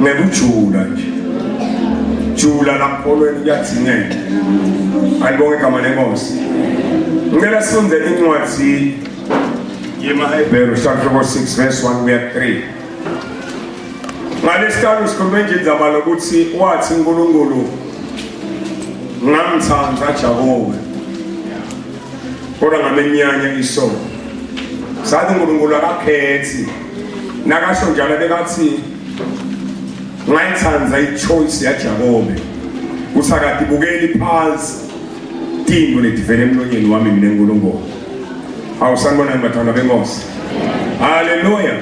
ngekujula nje jula lakholweni kuyadingeka alibonge igama lenkosi ngicela sifunde incwadi yemahebheru chapter 6 verse 1 kuya 3 ngalesihlanu sikhulume nje indzaba lokuthi wathi unkulunkulu ngamthanda jakobe kodwa ngamenyanya isono sathi unkulunkulu akakhethi nakasho njalo bekathi ngayithanda ichoice yajakobe kusakati bukeli phansi tingo letivele emlonyeni wami mina nkulunkulu awusanibonani bathandwa benkosi haleluya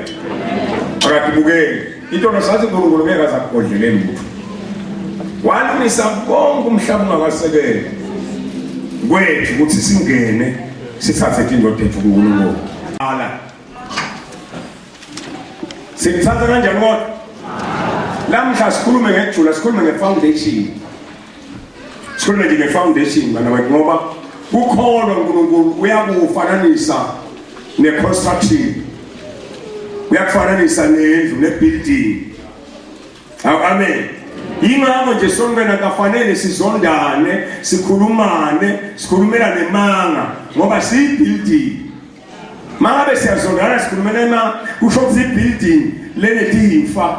akatibukeli Into nosathi uNkulunkulu ngeke aze akugodlele lutho. Walungisa konke umhlaba ungakasebenzi. Kwethu ukuthi singene sithathe indoda ethu kuNkulunkulu. Ala. Sikuthatha kanjani kodwa? Lamhla sikhulume ngejula, sikhulume ngefoundation. Sikhuluma nje nge-foundation bana bathi ngoba kukhona uNkulunkulu uyakufananisa ne-construction uyakufananisa nendlu ne-building awu amen yingakho nje sonkena kafanele sizondane sikhulumane sikhulumela nemanga ngoba siyi-building mangabe siyazondana sikhulumela imanga kusho ukuthi i-building lenetiyimfa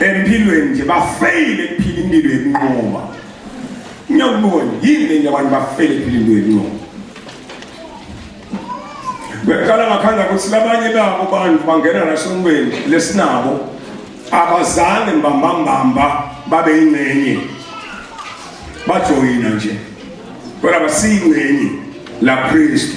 empilweni nje bafeyile kuphila impilo yokunqoba ngiyakubona yini lenye abantu bafeyile kuphila impilo yokunqoba bekhala ngakhanda ukuthi labanye babo bantu bangena nasonweni lesinabo abazange mbambambamba babe yingxenye bajoyina nje kodwa basiyingxenye la Kristu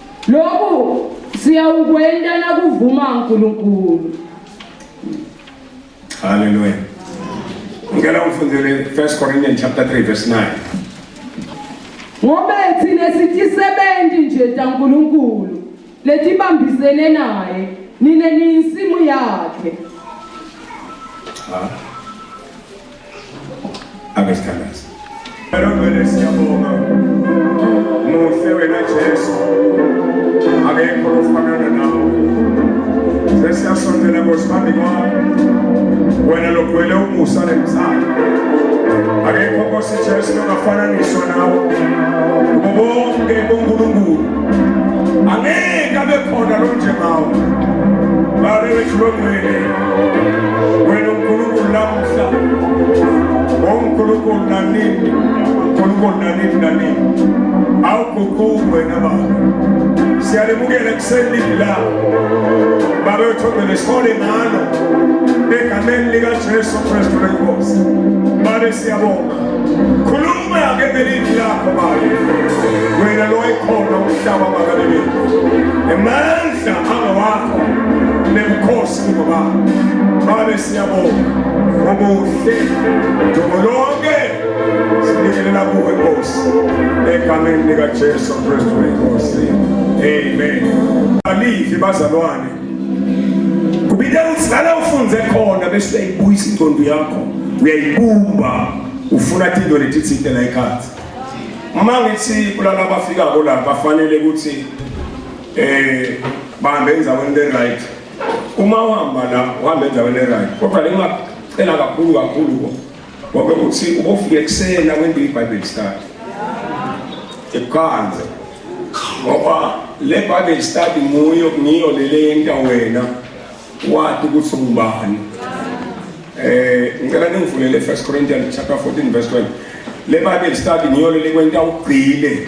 Lokhu siyawukwenta nakuvuma uNkulunkulu. Hallelujah. Ngicela ufundele 1 Corinthians chapter 3 verse 9. Ngobe thina sitisebenzi nje taNkulunkulu letibambisene naye nine niyinsimu yakhe. Ah. Ake sithandaze. Ngibonge siyabonga. Muhle wena Jesu. Akekho ofanana nawe. Sesiyasondela ngosibambi kwakho. Wena logwele umusa nemsana. Akekho Nkosi Jesu ongafananiswa nawe. Kubo bonke boNkulunkulu. Angeke abe khona lo njengawe. Bale wethu longwele. Onkulunkulu na nini? Onkulunkulu na nini na nini? Au kukuwe na baba. Siyalimukele kuseni la. Baba uthobele sole ngalo. Egameni lika Jesu Kristu lenkosi. Baba siyabonga. Khuluma ke ngelimi lakho baba. Wena lo ekhona umhlaba makalele. Emandla angawakho. Nemkhosi baba. Baba Siyabonga obuhle dumo lonke sibingelela kuwe Nkosi egameni lika Jesu Kristu inkosi amen balivi bazalwane kubide utsala ufunze khona bese uyayibuyisa ingqondo yakho uyayibumba ufuna into letithinte la ikhathi uma ngithi kulala abafika ko la bafanele ukuthi eh bahambe enzaweni le right uma uhamba la uhamba endaweni erayo kodwa le ngingacela kakhulu kakhulu ko ngoba ukuthi ubofika ekuseni akwende ibhayibheli study ekuqanze ngoba le bhayibheli study nguyo ngiyo lele yenta wena wati ukuthi ungubani eh ngicela ningivulele first corinthians chapter 14 verse 12 le bhayibheli study ngiyo lele kwenta ugcile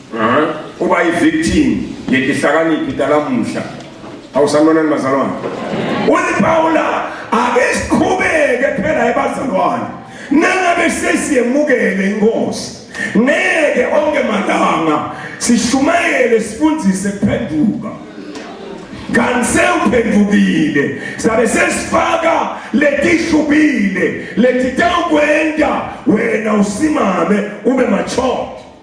uba yi-victim yetihlakaniphi talamuhla awusanonani bazalwane uthi pawula ake siqhubeke phela ebazalwane nangabe sesiyemukele inkosi ngeke onke malanga sishumayele sifundise kuphenduka kanti sewuphendukile sabe sesifaka letishubile letitawukwenta wena usimame ube machote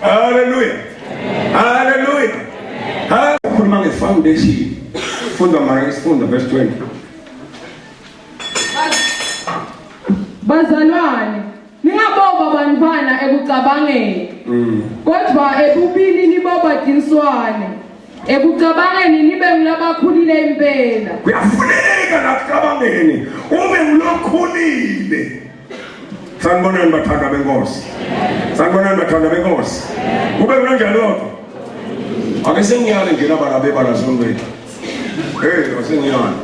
Hallelujah. Hallelujah. Hallelujah. Khuluma nge foundation. Funda manje isifunda verse 20. Bazalwane, ningaboba bantwana ekucabangeni. Mm. Kodwa ebubini niboba tinswane. Ekucabangeni nibe ngulabakhulile impela. Kuyafuneka nakucabangeni ube ngulokhulile. sanibonani bathanda benkosi sanibonani bathanda benkosi kube kunanjani kodwa ake sengiyale nje laba labebala sombethu hey wasengiyale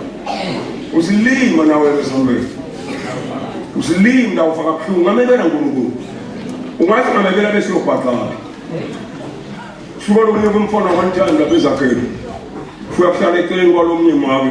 usilima nawe sombethu usilima la ufaka buhlungu ngamebela nkulunkulu ungathi ngamebela bese uyobhaqala suka lomunye kumfona one time lapha ezakhele uyakuhlala eceleni kwalomnye mami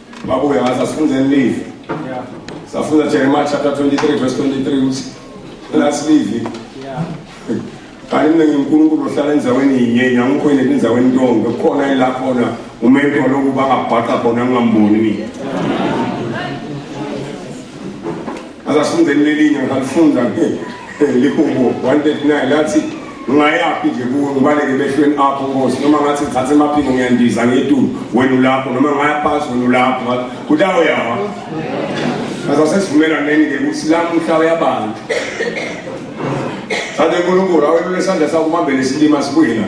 Babuya ngathi asifunde elivi. Yeah. Safunda Jeremiah chapter 23 verse 23 uthi last live. Yeah. Kanti mina nginkulunkulu ohlala endaweni yinye ngiyangikho yini endaweni ntongo kukhona ila khona umuntu lokuba ngabhaqa khona ngingamboni mina. Azasifundeni lelinye ngalifunda lihubo 139 lathi ngingayaphi nje kuwe ngibaleke emehlweni akho nkosi noma ngathi ngithathe emaphiko ngiyandiza ngetulu wena ulapho noma ngaya phasi wena ulapho kuthi awo yawa asasesivumelaneni-ke ukuthi lamuhla uyabantu sade nkulunkulu awelule isandla sakho ubambele isilima sibuye la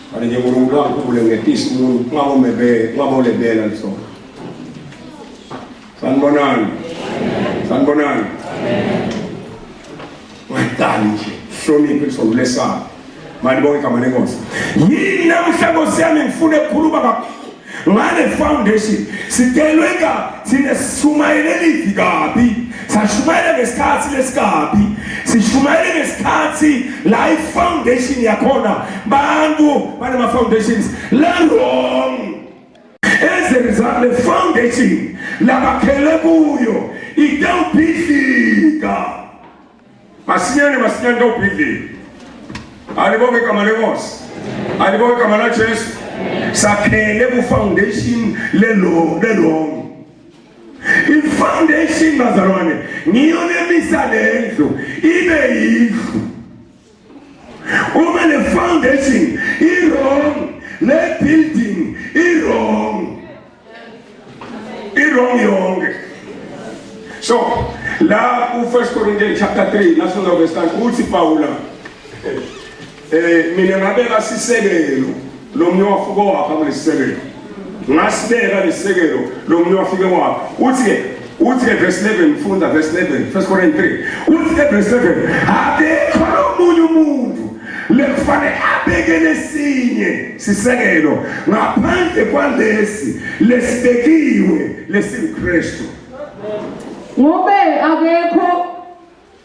Mane nje uNkulunkulu wangikhule ngetisa umuntu kungabomebele kungabonebela lisona. Sanibonani. Sanibonani. Wayidala nje. Hloniphe kusondulesana. Mani bonke igama lenkosi. Yini namhla nkosi yami ngifuna ekhuluma kakhulu. ngale foundation sidelwe kabi thina sishumayele livi kabi sashumayela ngesikhathi lesikabi sishumayele ngesikhathi la i-foundation yakhona bantu banama-foundations lerong as a result le foundation labakhele kuyo itewubhidlika Masinyane masinyane kawubhidlile. Alibonge igama lenkosi. Alibonge igama la Jesu. Sakhele ku foundation lelo lelo. I foundation bazalwane ngiyo lemisa lendlu ibe yindlu. Uma le foundation i wrong, le building i wrong. I wrong yonke. So, la ku 1 Corinthians chapter 3 la songa verse 9 uthi Paula eh mina ngabeka sisekelo Lo munye wafike wapha kulesisekelo. Ngasibeka lesisekelo lo munye wafike wapha. Uthi uthi verse 11 mfunda verse 11 first Corinthians 3 uthi verse 11 akekho omunye umuntu lekufanele abeke lesinye sisekelo ngaphandle kwalesi lesibekiwe lesinkristu ngobe akekho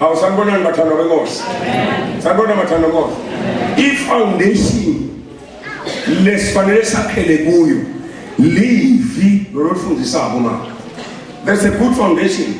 Awu sanibonani bathandwa benkosi. Sanibona bathandwa benkosi. I foundation lesifanele sakhele kuyo livi lolufundisako manje. That's a good foundation.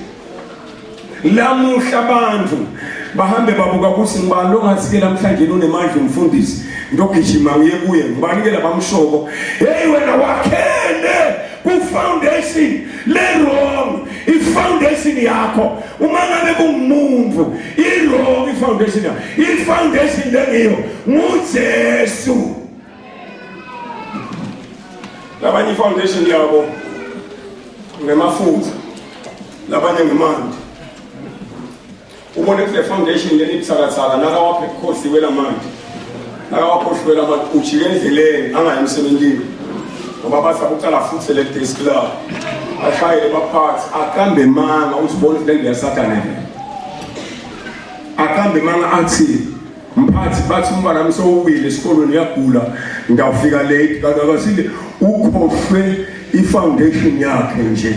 Lamuhla abantu bahambe babuka ukuthi ngibani longathi-ke namhlanje nonemandla umfundisi ngiyogijima ngiye kuye ngibani-ke labamshoko heyi wena wakhele kufoundation le-wrong ifoundation yakho uma ngabe kungumuntu i-wrong ifoundation yakho ifoundation lengiyo ngujesu labanye ifoundation yabo ngemafutha labanye ngemandi Ubone kule foundation leli buthakathaka nakawaphe ebukhosiwe la manje. Nakawakhohliwe la manje ujike endleleni angayi emsebenzini. Ngoba bathi akuqala futhi le desk la. Ashayele baphathi akambe manga uzibona ukuthi lento yasathana yena. Akambe manga athi mphathi bathi umntwana wami sowuwile esikolweni uyagula ngawufika late kanti akasile ukhohlwe i-foundation yakhe nje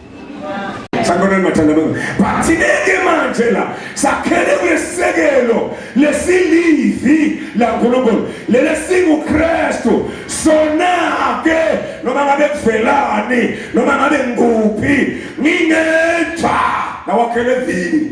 Sanibonani bathandana bami. Bathineke manje la sakhele kulesekelo lesilivi laNkulunkulu lele singuKristu sona ke noma ngabe kuvelani noma ngabe ngikuphi ngingenjani nawakhele vini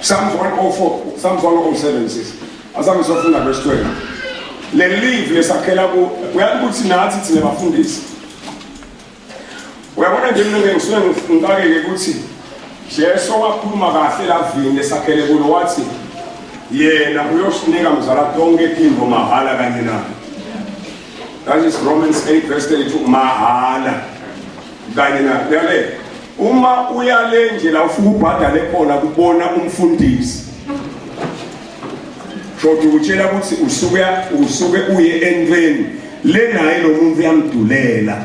Psalms 104, Psalms 107 sis. Azange sofunda verse 12. Le live lesakhela ku uyazi ukuthi nathi thina bafundisi. Uyabona nje mina ngisuke ngicakeke ukuthi Jesu wakhuluma kahle lavini lesakhele kulo wathi yena uyosinika mzala tonke timbo mahala kanye na. That is Romans 8 verse 32 mahala kanye na. Uyale Uma uya le nje la ufika ubhadale khona kubona umfundisi. Shothi utshela ukuthi usuke usuke uye entweni le naye lo muntu uyamdulela.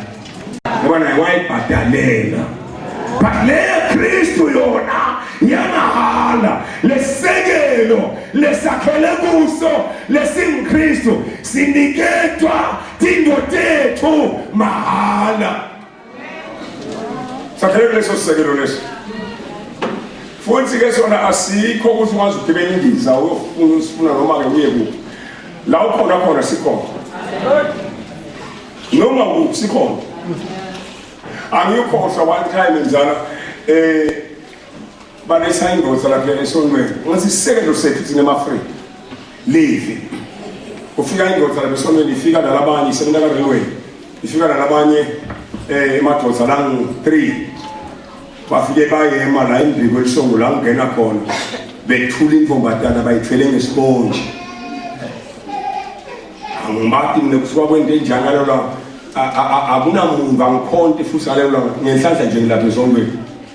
Ngoba naye wayibhadalela. But le Kristu yona yamahala lesekelo lesakhele kuso lesingkristu siniketwa tindotethu mahala sakhele kuleso sisekelo leso futhi-ke sona asikho ukuthi ukwazi ukugibela indiza uyofuna usifuna noma-ke uye kuphi la ukhona khona sikhona noma kuphi sikhona angiyukhohlwa one time mzala um eh, Balisa indoda lapha esonweni. Wathi isekelo sethu thina emaAfrika. Levi. Ufika indoda lapha esonweni ifika nalabanye isebenza ka railway. Ifika nalabanye eh emadoda la 3. Bafike bayema la indiko elisongo la ngena khona. Bethula inkombadana bayithwele ngesibonje. Angibati mina kusuka kwento enjani ngalo la. Akunamuntu angikhonti futhi ngaleyo la ngenhlanhla nje ngilapha esonweni.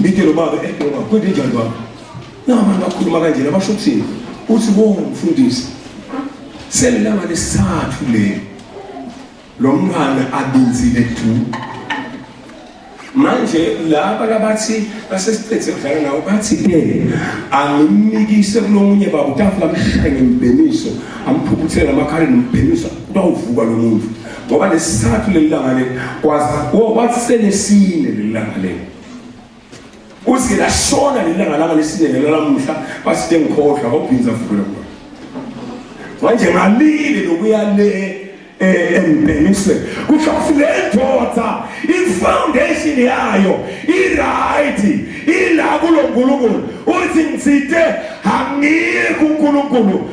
ngithe lo baba edoba eh, kwenze njani baba nabantu bakhuluma kanjena basho ukuthini uthi wo mfundisi selilanga lesithathu le lo mntwana abinzile du manje laba labathi basesiqedze kudlala nawo bathi ke angimnikise kulomunye baba utafula amshaye ngembhemiso amphuphuthele amakhaleni mbhemiso kutawuvuka lo muntu ngoba nesithathu leli langa leli kwazi wathi selesine leli langa leli uthi lashona leli langa langa lesine lelo lamuhla baside ngikhohlwa ngobhinza vukela kulo manje ngalile nokuya le eh, embheniswe kusho ukuthi le ndoda ifoundation yayo i-right ila kulo nkulunkulu uthi ngithinte angiyi kunkulunkulu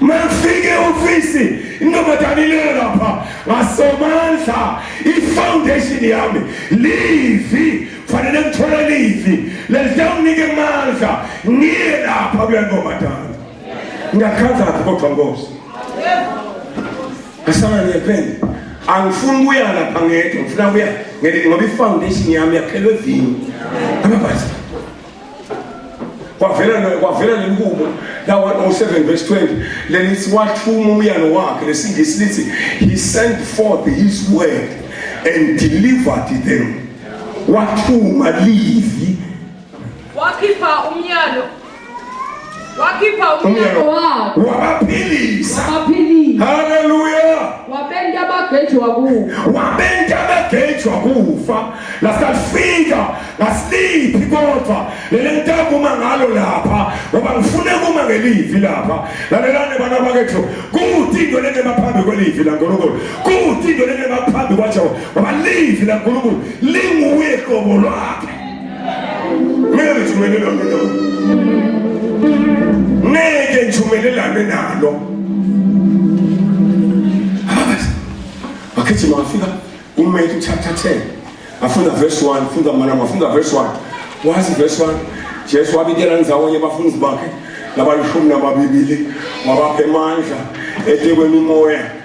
Mangifike ofisi intombazane ilele lapha ngasomandla ifoundation yami livi fanele ngithole livi lelizawunike mandla ngiye lapha kule ntombazane ngiyakhanzaphi kodwa nkosi ngasala ngiyepende angifuni ukuya lapha ngedwa ngifuna kuya ngoba ifoundation yami yakhelwe vini amabhazi kwavela kwavela lenkubo lawa 07 verse 20 lelithi wathuma umyalo wakhe lesingisi lithi he sent forth his word and delivered them wathuma livi wakhipha umyalo wakhipha umyalo wakhe wabaphilisa wabaphilisa haleluya wabenta abagejwa kufa wabenta abagejwa kufa lasalifika ngasiliphi kodwa lele ntakuma ngalo lapha ngoba ngifune kuma ngelivi lapha lalelane bana bakethu kuthi into lene baphambi kwelivi lankulunkulu kuthi into lene baphambi kwajehovha ngoba livi lankulunkulu linguye qobo lwakhe Ngeke ngivumelelane nalo. Ngeke ngivumelelane nalo. Ababazi. Bakhethi mafika uMethi chapter 10. Afunda verse 1, funda mana mafunda verse 1. Wazi verse 1. Jesu wabikela ndzawonye bafundi bakhe labalishumi nababili wabapha emandla etekweni umoya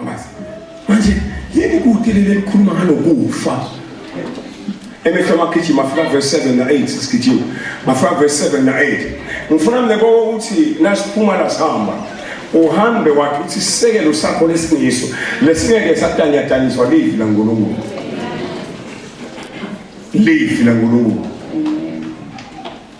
Abazi. Manje yini kude leli elikhuluma ngalokufa? Emehlo amagijima afika verse 7 na 8 sigijima. Bafika verse 7 na 8. Ngifuna mne konke ukuthi nasiphuma la sihamba. Uhambe wathi uthi sisekelo sakho lesingiso lesingeke satanyataniswa livi la Nkulunkulu. Livi la Nkulunkulu.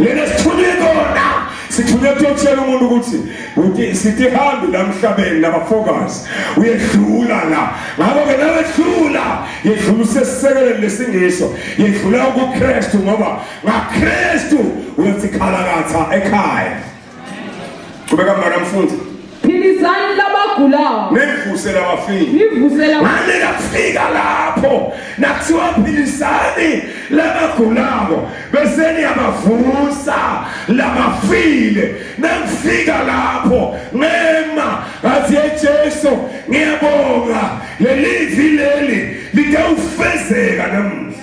lena sithunywe kona sithunywe kuyotshela umuntu ukuthi uthi sithi hambi la mhlabeni nabafokazi uyedlula la ngakho-ke nawedlula yedlula usesisekeleni lesingiso yedlula ukukristu ngoba ngakristu uyothi khalakatha ekhaya Qhubeka mntwana mfundi. Philizani labagulayo. Nivuse labafile. Nivuse labafile. Manje kafika lapho nakuthiwa philizani labagulayo bese niyabavusa labafile. Nakufika lapho ngema ngathi Jesu ngiyabonga leli vile leli litawufezeka namuhla.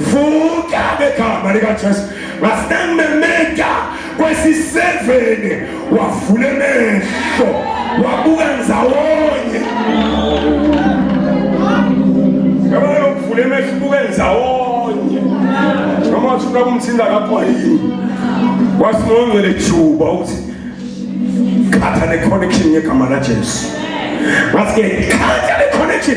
vuka ngegama likajesu wasememeta kwesiseveni wavula emehlo wabuka nzawonye yabona lokuvula emehlo ubuke nzawonye noma wathi ufuna kumthinta lapho yini wathi nongcwele juba ukuthi khatha ne-connection ngegama lajesu wathi-ke khatha ne-connection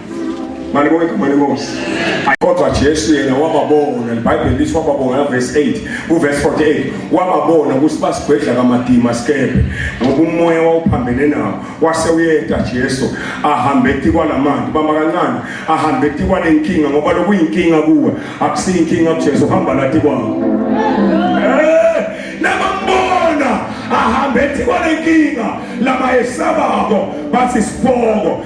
Malibonga igama lenkosi. Kodwa Jesu yena wababona, iBhayibheli lithi wababona la verse 8, ku verse 48, wababona ukuthi basigwedla kamadima sikebe ngoba umoya wawuphambene nawo. Wase uyeta Jesu ahambe etikwa lamanzi, bama kancane, ahambe etikwa lenkinga ngoba lokuyinkinga kuwe, akusiyinkinga kuJesu, hamba lathi kwawo. Eh, nabambona ahambe etikwa lenkinga labayesabako bathi sibongo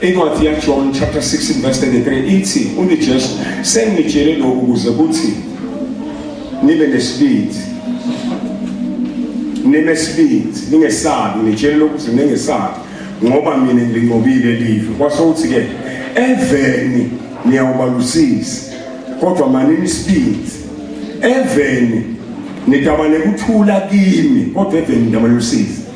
Incwadi yaJohn chapter 6 verse 33 ithi uNijesu sengitshele lokhu ukuze kuthi nibe nesibindi nibe sibindi ningesabi ngitshele lokhu ukuthi ningesabi ngoba mina ngilinqobile live kwase uthi ke eveni niyawubalusisi kodwa manini isibindi eveni nidabane kuthula kimi kodwa eveni nidabane usizi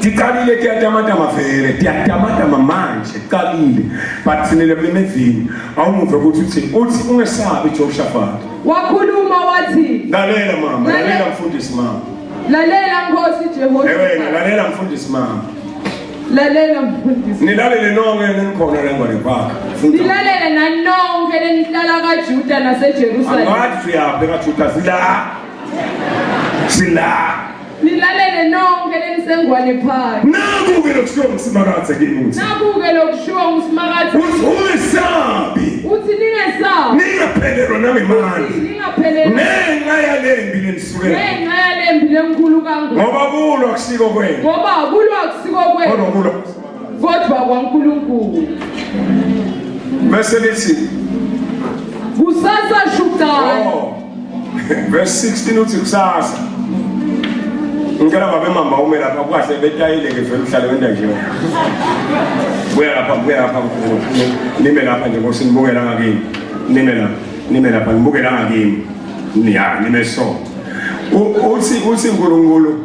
Tiqalile tiyatamatama vele tiyatamatama manje qalile but sinele kulemevini awumuve ukuthi uthini uthi ungesabi Jehoshaphat wakhuluma wathi lalela mama lalela mfundisi mama lalela nkosi Jehoshaphat ewena lalela mfundisi mama lalela mfundisi nilalele nonke nenikhona la ngwane kwakhe nilalele nanonke nenihlala kaJuda naseJerusalem angathi uyaphi kaJuda sila sila Nilalele nonke lenisengwane phakathi. Naku-ke lokushiwo nguSimakadze kimi ukuthi. Naku-ke lokushiwo nguSimakadze. Uthi ungesabi. Uthi ningesabi. Ningaphelelwa nangemali. Uthi ningaphelelwa. Ngenxa yalembi lenisuke. Ngenxa yalembi lenkulu kangaka. Ngoba kulwa akusiko kwenu. Ngoba kulwa akusiko kwenu. Kodwa kulwa kodwa kwaNkulunkulu bese lithi kusasa shukani oh. verse 16 uthi kusasa ngicela babe mama ume lapha kwahle betayile ke vele uhlale wenda nje buya lapha buya lapha nime lapha nje ngosi nibukela ngakini nime lapha nime lapha nibukela ngakini ya nime so uthi uthi uNkulunkulu